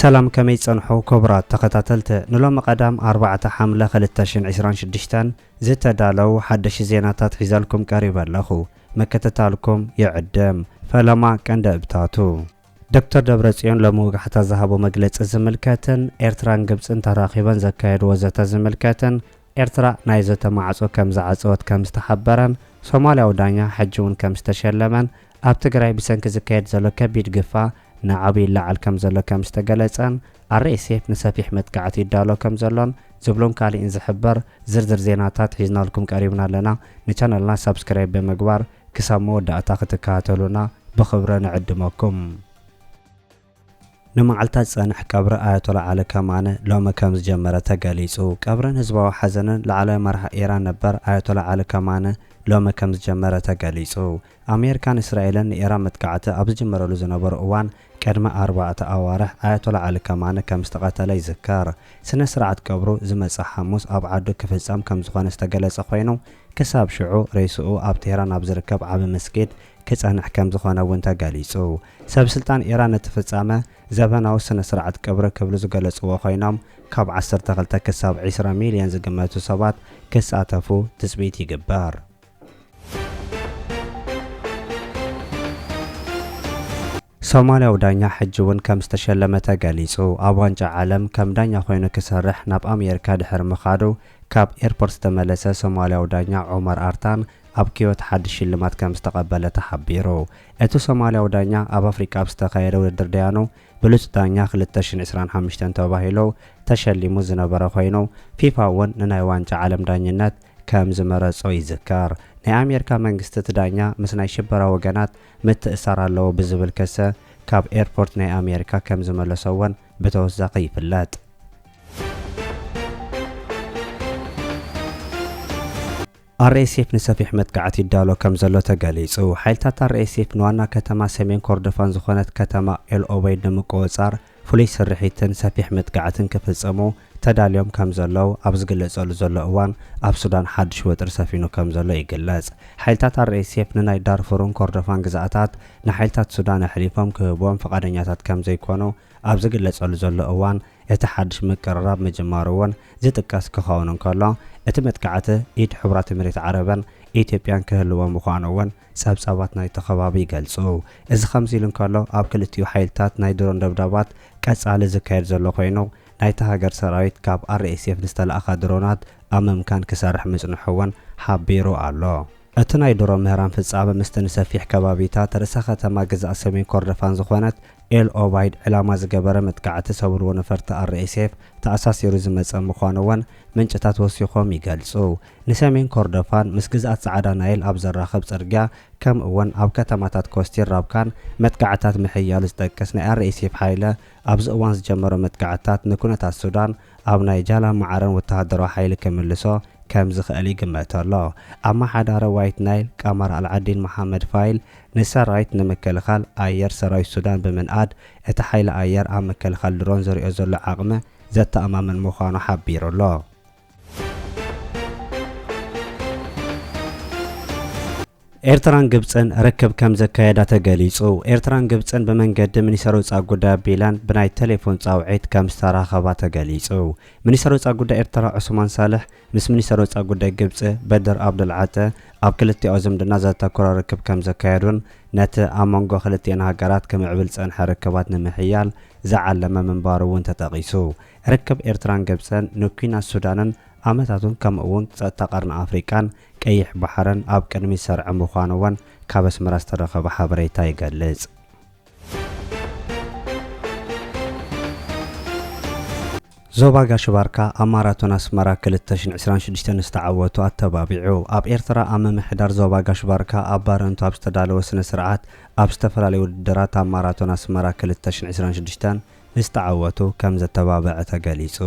ሰላም ከመይ ጸንሑ ክቡራት ተኸታተልቲ ንሎሚ ቀዳም ኣርባዕተ ሓምለ ክልተ ሽሕን ዕስራን ሽዱሽተን ዝተዳለው ሓደሽቲ ዜናታት ሒዘልኩም ቀሪበ ኣለኹ ምክትታልኩም ይዕድም ፈለማ ቀንደብታቱ ዶክተር ደብረጽዮን ሎሚ ወጋሕታ ዝሃቦ መግለጺ ዝምልከትን ኤርትራን ግብጽን ተራኺበን ዘካየድዎ ዘተ ዝምልከትን ኤርትራ ናይ ዘተ ማዕጾ ከም ዝዓጸወት ከም ዝተሓበረን ሶማልያዊ ዳኛ ሕጂ'ውን ከም ዝተሸለመን ኣብ ትግራይ ብሰንኪ ዝካየድ ዘሎ ከቢድ ግፋ ናዕቢ ይለዓል ከም ዘሎ ከም ዝተገለጸን RSF ንሰፊሕ መጥቃዕቲ ይዳሎ ከም ዘሎን ዝብሉን ካሊእን ዝሕበር ዝርዝር ዜናታት ሒዝናልኩም ቀሪብና ኣለና ንቻነልና ሳብስክራይብ ብምግባር ክሳብ መወዳእታ ክትከታተሉና ብኽብረ ንዕድመኩም። ንመዓልታት ዝጸንሕ ቀብሪ ኣያቶላ ዓሊ ከማነ ሎሚ ከምዝጀመረ ተገሊጹ። ቀብርን ህዝባዊ ሓዘንን ላዕለዋይ መራሒ ኢራን ነበር ኣያቶላ ዓሊ ከማነ ሎሚ ከምዝጀመረ ተገሊጹ። ኣሜርካን እስራኤልን ንኢራን መጥቃዕቲ ኣብ ዝጅምረሉ ዝነበሩ እዋን ቅድሚ ኣርባዕተ ኣዋርሕ ኣያቶላ ዓሊ ከማኒ ከም ዝተቐተለ ይዝከር። ስነ ስርዓት ቀብሩ ዝመጽእ ሓሙስ ኣብ ዓዱ ክፍጸም ከም ዝኾነ ዝተገለጸ ኮይኑ፣ ክሳብ ሽዑ ሬስኡ ኣብ ቴህራን ኣብ ዝርከብ ዓቢ መስጊድ ክጸንሕ ከም ዝኾነ እውን ተገሊጹ። ሰብ ስልጣን ኢራን ነቲ ፍጻመ ዘበናዊ ስነ ስርዓት ቀብሪ ክብሉ ዝገለጽዎ ኮይኖም፣ ካብ ዓሰርተ ክልተ ክሳብ ዕስራ ሚልዮን ዝግመቱ ሰባት ክሳተፉ ትጽቢት ይግበር። ሶማልያዊ ዳኛ ሕጂ'ውን ከም ዝተሸለመ ተገሊጹ። ኣብ ዋንጫ ዓለም ከም ዳኛ ኮይኑ ክሰርሕ ናብ ኣሜሪካ ድሕሪ ምኻዱ ካብ ኤርፖርት ዝተመለሰ ሶማልያዊ ዳኛ ዑመር ኣርታን ኣብ ኪዮት ሓድሽ ሽልማት ከም ዝተቐበለ ተሓቢሩ። እቲ ሶማልያዊ ዳኛ ኣብ ኣፍሪቃ ኣብ ዝተኻየደ ውድድር ደያኑ ብሉጽ ዳኛ ክልተ ሽሕን ዕስራን ሓሙሽተን ተባሂሉ ተሸሊሙ ዝነበረ ኮይኑ ፊፋ'ውን ንናይ ዋንጫ ዓለም ዳኝነት ከም ዝመረጾ ይዝከር። ናይ ኣሜርካ መንግስቲ እቲ ዳኛ ምስ ናይ ሽበራ ወገናት ምትእሳር ኣለዎ ብዝብል ከሰ ካብ ኤርፖርት ናይ ኣሜርካ ከም ዝመለሶ ወን ብተወሳኺ ይፍለጥ። ኣርኤስኤፍ ንሰፊሕ መጥቃዕቲ ይዳሎ ከም ዘሎ ተገሊጹ። ሓይልታት ኣርኤስኤፍ ንዋና ከተማ ሰሜን ኮርዶፋን ዝኾነት ከተማ ኤል ኦበይድ ንምቁጽጻር ፍሉይ ስርሒትን ሰፊሕ መጥቃዕትን ክፍጽሙ ተዳልዮም ከም ዘለዉ ኣብ ዝግለጸሉ ዘሎ እዋን፣ ኣብ ሱዳን ሓድሽ ወጥሪ ሰፊኑ ከም ዘሎ ይግለጽ። ሓይልታት ኣርኤስኤፍ ንናይ ዳርፉርን ኮርዶፋን ግዝኣታት ንሓይልታት ሱዳን ኣሕሊፎም ክህብዎም ፍቓደኛታት ከም ዘይኰኑ ኣብ ዝግለጸሉ ዘሎ እዋን፣ እቲ ሓድሽ ምቅርራብ ምጅማሩ እውን ዝጥቀስ ክኸውን እንከሎ፣ እቲ መጥቃዕቲ ኢድ ሕቡራት ኤሚሬት ዓረብን ኢትዮጵያን ክህልዎ ምዃኑ እውን ጸብጻባት ናይቲ ከባቢ ይገልጹ። እዚ ከምዚ ኢሉ እንከሎ፣ ኣብ ክልቲኡ ሓይልታት ናይ ድሮን ደብዳባት ቀጻሊ ዝካየድ ዘሎ ኮይኑ፣ ናይታ ሃገር ሰራዊት ካብ RSF ንዝተላእኻ ድሮናት ኣብ ምምካን ክሰርሕ ምጽንሑ እውን ሓቢሩ ኣሎ። እቲ ናይ ድሮ ምህራም ፍጻመ ምስቲ ንሰፊሕ ከባቢታት ርእሰ ከተማ ግዝኣት ሰሜን ኮርዶፋን ዝኾነት ኤል ኦባይድ ዕላማ ዝገበረ መጥቃዕቲ ሰብልዎ ነፈርቲ RSF ተኣሳሲሩ ዝመጸ ምዃኑ እውን ምንጭታት ወሲኾም ይገልጹ። ንሰሜን ኮርዶፋን ምስ ግዝኣት ጻዕዳ ናይል ኣብ ዘራኽብ ጽርግያ ከምኡ'ውን ኣብ ከተማታት ኮስቲር ራብካን መጥቃዕትታት ምሕያሉ ዝጠቅስ ናይ RSF ሓይለ ኣብዚ እዋን ዝጀመሮ መጥቃዕትታት ንኩነታት ሱዳን ኣብ ናይ ጃላን ማዓረን ወተሃደራዊ ሓይሊ ክምልሶ ከም ዝኽእል ይግመተ'ሎ። ኣማሓዳሪ ዋይት ናይል ቃማር ኣልዓዲን መሓመድ ፋይል ንሰራዊት ንምክልኻል ኣየር ሰራዊት ሱዳን ብምንኣድ እቲ ሓይሊ ኣየር ኣብ ምክልኻል ድሮን ዘሪኦ ዘሎ ዓቕሚ ዘተኣማምን ምዃኑ ሓቢሩ'ሎ። ኤርትራን ግብጽን ርክብ ከም ዘካየዳ ተገሊጹ። ኤርትራን ግብጽን ብመንገዲ ሚኒስተር ወጻኢ ጉዳይ ኣቢላን ብናይ ቴሌፎን ጻውዒት ከም ዝተራኸባ ተገሊጹ። ሚኒስተር ወጻኢ ጉዳይ ኤርትራ ዑስማን ሳልሕ ምስ ሚኒስተር ወጻኢ ጉዳይ ግብጺ በድር ኣብደልዓጠ ኣብ ክልቲኣዊ ዝምድና ዘተኮረ ርክብ ከም ዘካየዱን ነቲ ኣብ መንጎ ክልቲኤን ሃገራት ክምዕብል ዝጸንሐ ርክባት ንምሕያል ዝዓለመ ምንባሩ እውን ተጠቒሱ። ርክብ ኤርትራን ግብጽን ንኲናት ሱዳንን ኣመታቱን ከምኡ'ውን ጸጥታ ቀርኒ ኣፍሪቃን ቀይሕ ባሕርን ኣብ ቅድሚት ሰርዐ ምዃኑ'ውን ካብ ኣስመራ ዝተረኸበ ሓበሬታ ይገልጽ። ዞባ ጋሽ ባርካ ኣብ ማራቶን ኣስመራ ክልተ ሽሕን ዕስራን ሽዱሽተን ዝተዓወቱ ኣተባቢዑ። ኣብ ኤርትራ ኣብ ምምሕዳር ዞባ ጋሽ ባርካ ኣብ ባረንቱ ኣብ ዝተዳለወ ስነ-ስርዓት ኣብ ዝተፈላለዩ ውድድራት ኣብ ማራቶን ኣስመራ ክልተ ሽሕን ዕስራን ሽዱሽተን ምስ ተዓወቱ ከም ዘተባብዕ ተገሊፁ።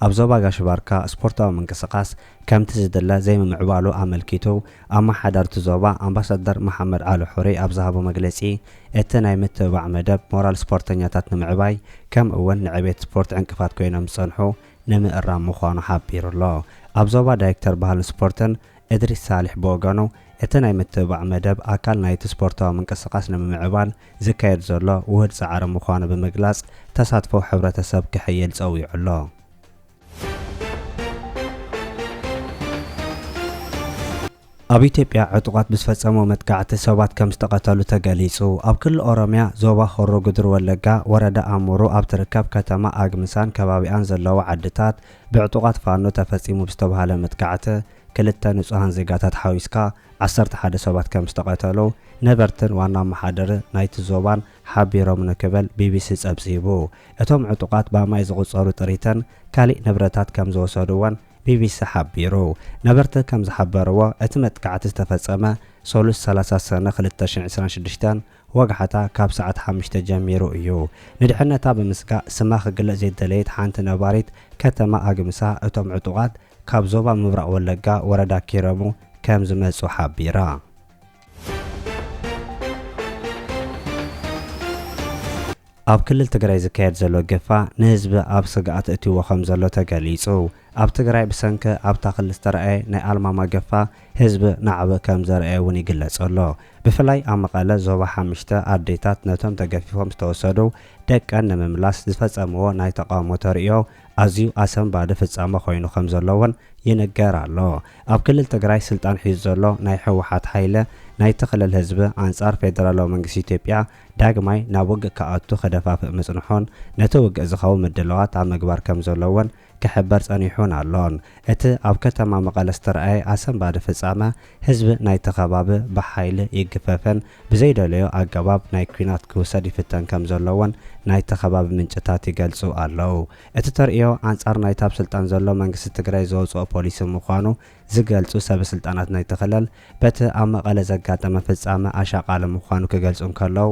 ኣብ ዞባ ጋሽ-ባርካ ስፖርታዊ ምንቅስቓስ ከምቲ ዝድለ ዘይምምዕባሉ ኣመልኪቱ ኣመሓዳርቲ ዞባ ኣምባሳደር መሓመድ ዓሊ ሑሪ ኣብ ዝሃቦ መግለፂ እቲ ናይ ምትብባዕ መደብ ሞራል ስፖርተኛታት ንምዕባይ ከም እውን ንዕቤት ስፖርት ዕንቅፋት ኮይኖም ዝፀንሑ ንምእራም ምዃኑ ሓቢሩ ኣሎ። ኣብ ዞባ ዳይክተር ባህልን ስፖርትን እድሪስ ሳሊሕ ብወገኑ እቲ ናይ ምትብባዕ መደብ ኣካል ናይቲ ስፖርታዊ ምንቅስቓስ ንምምዕባል ዝካየድ ዘሎ ውሁድ ፃዕሪ ምዃኑ ብምግላፅ ተሳትፎ ሕብረተሰብ ክሕይል ፀዊዑ ኣሎ። ኣብ ኢትዮጵያ ዕጡቓት ብዝፈፀምዎ መጥቃዕቲ ሰባት ከምዝተቐተሉ ተገሊፁ። ኣብ ክልል ኦሮሚያ ዞባ ሆሮ ጉድሩ ወለጋ ወረዳ ኣሙሩ ኣብ ትርከብ ከተማ ኣግምሳን ከባቢኣን ዘለዋ ዓድታት ብዕጡቓት ፋኖ ተፈፂሙ ብዝተብሃለ መጥቃዕቲ ክልተ ንፁሃን ዜጋታት ሓዊስካ ዓሰርተ ሓደ ሰባት ከም ዝተቐተሉ ነበርትን ዋና ኣመሓደሪ ናይቲ ዞባን ሓቢሮም ንክበል ቢቢሲ ጸብጺቡ። እቶም ዕጡቓት ብኣማኢት ዝቑጸሩ ጥሪትን ካሊእ ንብረታት ከም ዝወሰዱ'ውን ቢቢሲ ሓቢሩ። ነበርቲ ከም ዝሓበርዎ እቲ መጥቃዕቲ ዝተፈጸመ ሰሉስ ሰላሳ ሰነ ክልተ ሽሕን ዕስራን ሽዱሽተን ወግዓታ ካብ ሰዓት ሓሙሽተ ጀሚሩ እዩ። ንድሕነታ ብምስጋእ ስማ ክግለጽ ዘይደለየት ሓንቲ ነባሪት ከተማ ኣግምሳ እቶም ዕጡቓት ካብ ዞባ ምብራቕ ወለጋ ወረዳ ኪረሙ ከም ዝመጹ ሓቢራ። ኣብ ክልል ትግራይ ዝካየድ ዘሎ ግፋ ንህዝቢ ኣብ ስግኣት ኣእትይዎ ከም ዘሎ ተገሊጹ። ኣብ ትግራይ ብሰንኪ ኣብታ ክልል ዝተርኣየ ናይ ኣልማማ ግፋ ህዝቢ ናዕቢ ከም ዘርኣየ እውን ይግለጽ ኣሎ። ብፍላይ ኣብ መቐለ ዞባ ሓምሽተ ኣዴታት ነቶም ተገፊፎም ዝተወሰዱ ደቀን ንምምላስ ዝፈጸምዎ ናይ ተቓውሞ ተርእዮ ኣዝዩ ኣሰንባዲ ፍጻመ ኮይኑ ከም ዘሎ እውን ይንገር ኣሎ። ኣብ ክልል ትግራይ ስልጣን ሒዙ ዘሎ ናይ ህወሓት ሓይለ ናይቲ ክልል ህዝቢ ኣንጻር ፌደራላዊ መንግስቲ ኢትዮጵያ ዳግማይ ናብ ውግእ ክኣቱ ክደፋፍእ ምጽንሑን ነቲ ውግእ ዝኸውን ምድላዋት ኣብ ምግባር ከም ዘሎ እውን ክሕበር ጸኒሑን ኣሎን። እቲ ኣብ ከተማ መቐለ ዝተርኣየ ኣሰንባዲ ፍጻመ ህዝቢ ናይቲ ከባቢ ብሓይሊ ይግፈፈን ብዘይደለዮ ኣገባብ ናይ ኲናት ክውሰድ ይፍተን ከም ዘሎ'ውን ናይቲ ከባቢ ምንጭታት ይገልጹ ኣለው። እቲ ተርእዮ ኣንጻር ናይቲ ኣብ ስልጣን ዘሎ መንግስቲ ትግራይ ዘውጽኦ ፖሊሲ ምዃኑ ዝገልጹ ሰበስልጣናት ናይቲ ክልል በቲ ኣብ መቐለ ዘጋጠመ ፍጻመ ኣሻቓሊ ምዃኑ ክገልጹ እንከለው፣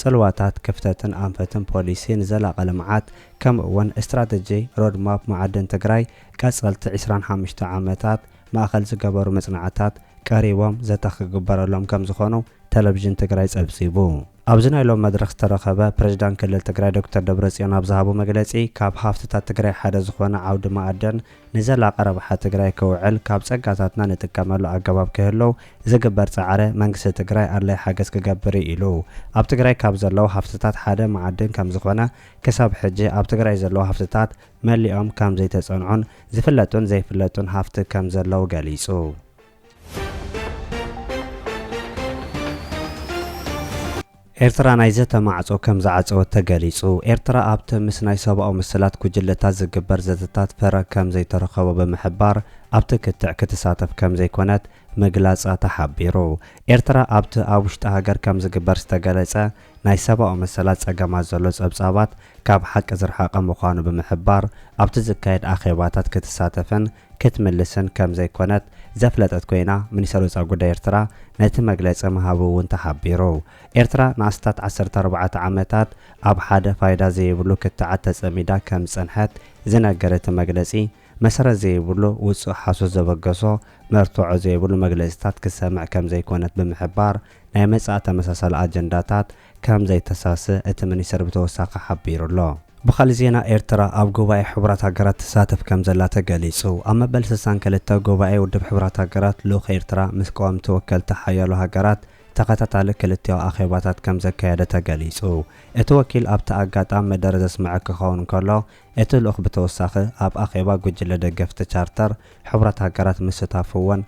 ጽልዋታት ክፍተትን ኣንፈትን ፖሊሲ ንዘላቒ ልምዓት ከምኡ'ውን ስትራተጂ ሮድ ማፕ መዓድን ትግራይ ቀፀልቲ ዕስራን ሓሙሽተ ዓመታት ማእኸል ዝገበሩ መፅናዕትታት ቀሪቦም ዘተ ክግበረሎም ከምዝኾኑ ቴሌቪዥን ትግራይ ፀብፂቡ። ኣብዚ ናይ ሎሚ መድረኽ ዝተረኸበ ፕሬዚዳንት ክልል ትግራይ ዶክተር ደብረፅዮን ኣብ ዝሃቦ መግለፂ ካብ ሃፍትታት ትግራይ ሓደ ዝኾነ ዓውዲ መኣድን ንዘላቂ ረብሓ ትግራይ ክውዕል ካብ ፀጋታትና ንጥቀመሉ ኣገባብ ክህለው ዝግበር ፃዕረ መንግስቲ ትግራይ ኣድላይ ሓገዝ ክገብር እዩ ኢሉ። ኣብ ትግራይ ካብ ዘለው ሃፍትታት ሓደ መዓድን ከምዝኾነ ክሳብ ሕጂ ኣብ ትግራይ ዘለው ሃፍትታት መሊኦም ከምዘይተፀንዑን ዝፍለጡን ዘይፍለጡን ሃፍቲ ከምዘለው ገሊፁ። ኤርትራ ናይ ዘተ ማዕጾ ከም ዝዓጸወት ተገሊጹ። ኤርትራ ኣብቲ ምስ ናይ ሰብኣዊ መሰላት ጉጅለታት ዝግበር ዘተታት ፍረ ከም ዘይተረኸቦ ብምሕባር ኣብቲ ክትዕ ክትሳተፍ ከም ዘይኮነት ምግላጻ ተሓቢሩ። ኤርትራ ኣብቲ ኣብ ውሽጢ ሃገር ከም ዝግበር ዝተገለጸ ናይ ሰብኣዊ መሰላት ጸገማት ዘሎ ጸብጻባት ካብ ሓቂ ዝርሓቐ ምዃኑ ብምሕባር ኣብቲ ዝካየድ ኣኼባታት ክትሳተፍን ክትምልስን ከም ዘይኮነት ዘፍለጠት ኮይና፣ ሚኒስተር ወጻኢ ጉዳይ ኤርትራ ነቲ መግለጺ ምሃቡ እውን ተሓቢሩ። ኤርትራ ንኣስታት ዓሰርተ ኣርባዕተ ዓመታት ኣብ ሓደ ፋይዳ ዘይብሉ ክትዓት ተጸሚዳ ከም ዝጸንሐት ዝነገር እቲ መግለጺ፣ መሰረት ዘይብሉ ውጹእ ሓሶት ዘበገሶ መርትዖ ዘይብሉ መግለጺታት ክትሰምዕ ከም ዘይኮነት ብምሕባር፣ ናይ መጻኢ ተመሳሳሊ ኣጀንዳታት ከም ዘይተሳስእ እቲ ሚኒስተር ብተወሳኺ ሓቢሩ'ሎ። ብኻልእ ዜና ኤርትራ ኣብ ጉባኤ ሕቡራት ሃገራት ትሳተፍ ከም ዘላ ተገሊጹ። ኣብ መበል ስሳን ክልተ ጉባኤ ውድብ ሕቡራት ሃገራት ልኡኽ ኤርትራ ምስ ቀወምቲ ወከልቲ ሓያሎ ሃገራት ተኸታታሊ ክልቲኣዊ ኣኼባታት ከም ዘካየደ ተገሊጹ። እቲ ወኪል ኣብቲ ኣጋጣም መደረ ዘስመዐ ክኸውን እንከሎ እቲ ልኡኽ ብተወሳኺ ኣብ ኣኼባ ጉጅለ ደገፍቲ ቻርተር ሕቡራት ሃገራት ምስታፉ'ውን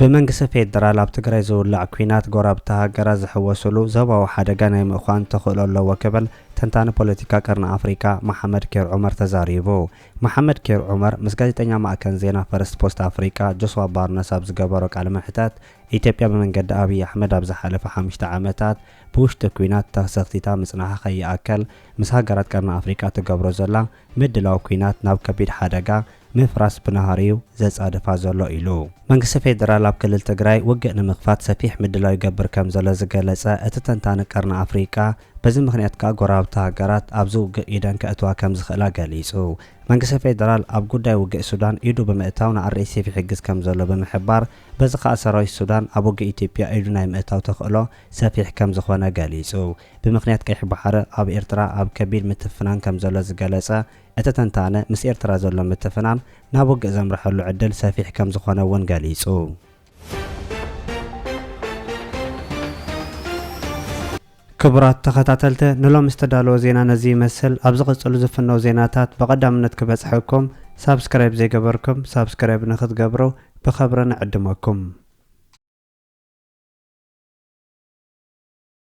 ብመንግስቲ ፌደራል ኣብ ትግራይ ዝውላዕ ኲናት ጎረባብቲ ሃገራት ዝሕወስሉ ዞባዊ ሓደጋ ናይ ምዃን ተኽእሎ ኣለዎ ክብል ተንታኒ ፖለቲካ ቀርኒ ኣፍሪካ መሓመድ ኬር ዑመር ተዛሪቡ። መሓመድ ኬር ዑመር ምስ ጋዜጠኛ ማእከን ዜና ፈርስት ፖስት ኣፍሪቃ ጆስዋ ባርነስ ኣብ ዝገበሮ ቃለ መሕተት ኢትዮጵያ ብመንገዲ ኣብይ ኣሕመድ ኣብ ዝሓለፈ ሓሙሽተ ዓመታት ብውሽጢ ኲናት ተሰኽቲታ ምጽናሓ ከይኣከል ምስ ሃገራት ቀርኒ ኣፍሪቃ ትገብሮ ዘላ ምድላው ኲናት ናብ ከቢድ ሓደጋ ምፍራስ ብናህሪ'ዩ ዘጻድፋ ዘሎ ኢሉ። መንግስቲ ፌደራል ኣብ ክልል ትግራይ ውግእ ንምኽፋት ሰፊሕ ምድላው ይገብር ከምዘሎ ዝገለጸ እቲ ተንታኒ ቀርኒ ኣፍሪቃ በዚ ምኽንያት ከኣ ጎረባብቲ ሃገራት ኣብዚ ውግእ ኢደን ከእትዋ ከምዝኽእላ ገሊጹ። መንግስቲ ፌደራል ኣብ ጉዳይ ውግእ ሱዳን ኢዱ ብምእታው ንኣርኤስኤፍ ይሕግዝ ከምዘሎ ብምሕባር በዚ ከኣ ሰራዊት ሱዳን ኣብ ውግእ ኢትዮጵያ ኢዱ ናይ ምእታው ተኽእሎ ሰፊሕ ከምዝኾነ ገሊጹ። ብምኽንያት ቀይሕ ባሕሪ ኣብ ኤርትራ ኣብ ከቢድ ምትፍናን ከምዘሎ ዝገለጸ እቲ ተንታነ፣ ምስ ኤርትራ ዘሎ ምትፍናን ናብ ውግእ ዘምርሐሉ ዕድል ሰፊሕ ከምዝኾነ እውን ገሊጹ። ክቡራት ተኸታተልቲ ንሎሚ ዝተዳለወ ዜና ነዚ ይመስል። ኣብ ዝቕጽሉ ዝፍነው ዜናታት ብቐዳምነት ክበጽሐኩም ሳብስክራይብ ዘይገበርኩም ሳብስክራይብ ንክትገብሩ ብኸብሪ ንዕድመኩም።